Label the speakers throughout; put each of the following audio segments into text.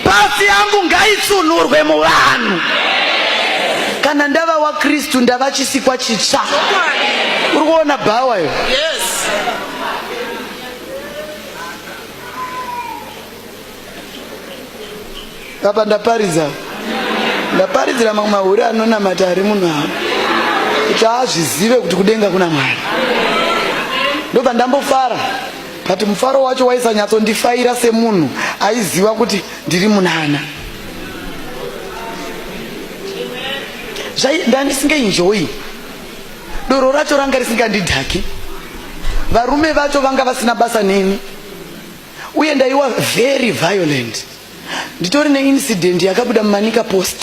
Speaker 1: pasi yangu ngaitsunurwe muvanhu kana ndava wakristu ndava chisikwa chitsva uri kuona bhawa yo apa ndaparidza ndaparidzira mamwe mahure anonamata ari munhu avo kuti azvizive kuti kudenga kuna mwari ndobva ndambofara but mufaro wacho waisanyatsondifaira semunhu aiziva kuti ndiri munana zvandandisingaenjoyi doro racho ranga risingandidhaki varume vacho vanga vasina basa neni uye ndaiwa very violent nditori neincident yakabuda mumanika post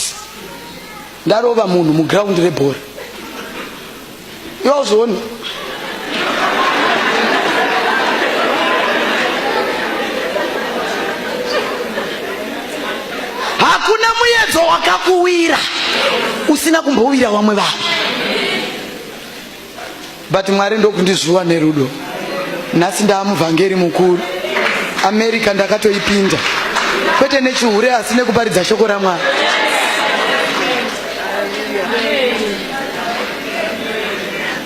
Speaker 1: ndarova munhu muground rebhora yozoni hakuna muyedzo wakakuwira usina kumbowira vamwe vanhu but mwari ndokundizvuwa nerudo nhasi ndaamuvhangeri mukuru america ndakatoipinda kwete nechihure asi nekuparidza shoko ramwari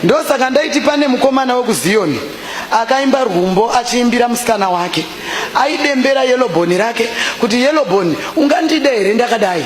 Speaker 1: ndosaka ndaiti pane mukomana wekuziyoni akaimba rwumbo achiimbira musikana wake aidembera yelobhoni rake kuti yelobhoni ungandida here ndakadai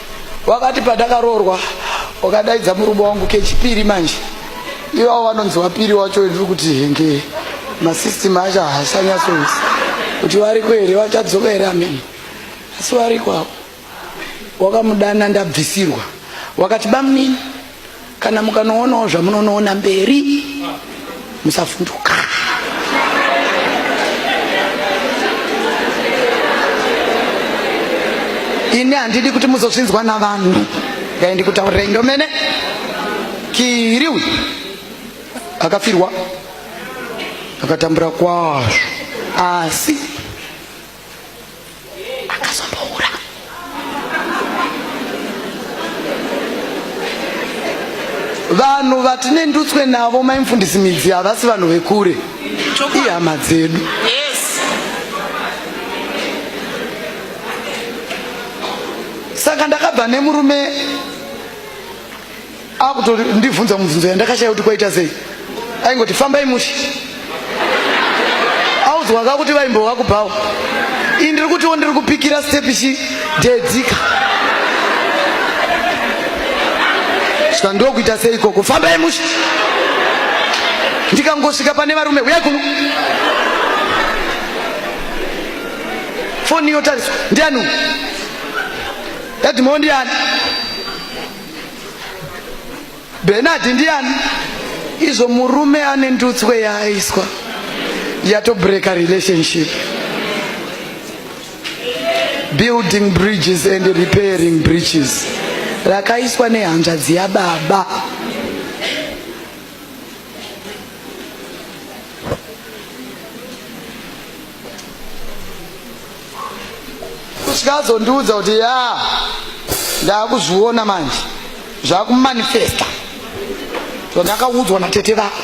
Speaker 1: wakati pandakaroorwa wakadaidza murume wangu kechipiri manje iwawo vanonzi wapiri wacho ndiri kuti henge masystem acho haasanyatsoisi kuti variko here vachadzoka here amene asi variko avo wakamudana ndabvisirwa wakati bamunini kana mukanoonawo zvamunonoona mberi musavhunduka ini handidi kuti muzozvinzwa navanhu ndai ndikutaurirai ndomene kiri uyu akafirwa akatambura kwazvo asi akazombohura vanhu vatine ndutswe navo maimfundisi midzi havasi vanhu vekure ihama dzedu saka ndakabva nemurume akutori ndibvunza mubvunzo yandakashaya kuti kwaita sei aingoti fambai mushe audzwaka kuti vaimbova kubhawa ii ndiri kutiwo ndiri kupikira stepi chi deedzika saka ndokuita sei ikoko fambai mushe ndikangosvika pane varume uya kuno foni yotariswa ndiani dadhimao ndiani Bernard ndiani? Izvo murume ane ndutswe yaaiswa yatobreka relationship. Building bridges and repairing bridges rakaiswa nehanzvadzi yababa. kusvika azondiudza kuti ya ndakuzviona manje zvakumanifesta zvandakaudzwa natete vako